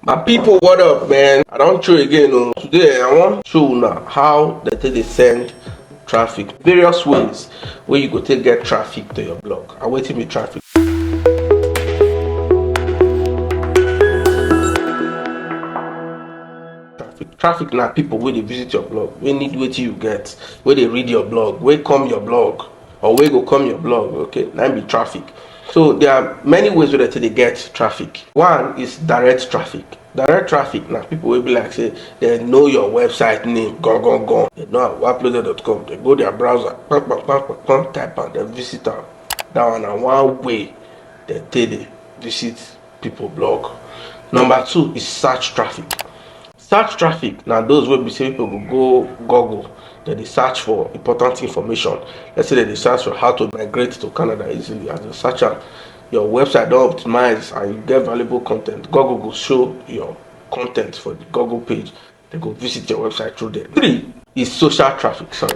my people what up man i don't show again o oh. today i wan show una how dem take dey send traffic various ways where you go take get traffic to your blog and wetin be traffic traffic na people wey dey visit your blog wey need wetin you get wey dey read your blog wey come your blog or wey go come your blog okay na be traffic so there are many ways wey dem take dey get traffic one is direct traffic direct traffic na people wey be like say dem know your website name gan gan gan dem know awaploaded.com dem go their browser kpam kpam kpam kpam kpam type am dem visit am that one na one way dem take dey visit people blog number two is search traffic Search traffic na those wey be sey people go go google dem dey search for important information let's say dem dey search for how to migrate to Canada easily as dem search am your website don optimise and you get valuable con ten t google go show your con ten t for the google page dem go visit your website through there. Three is social traffic sorry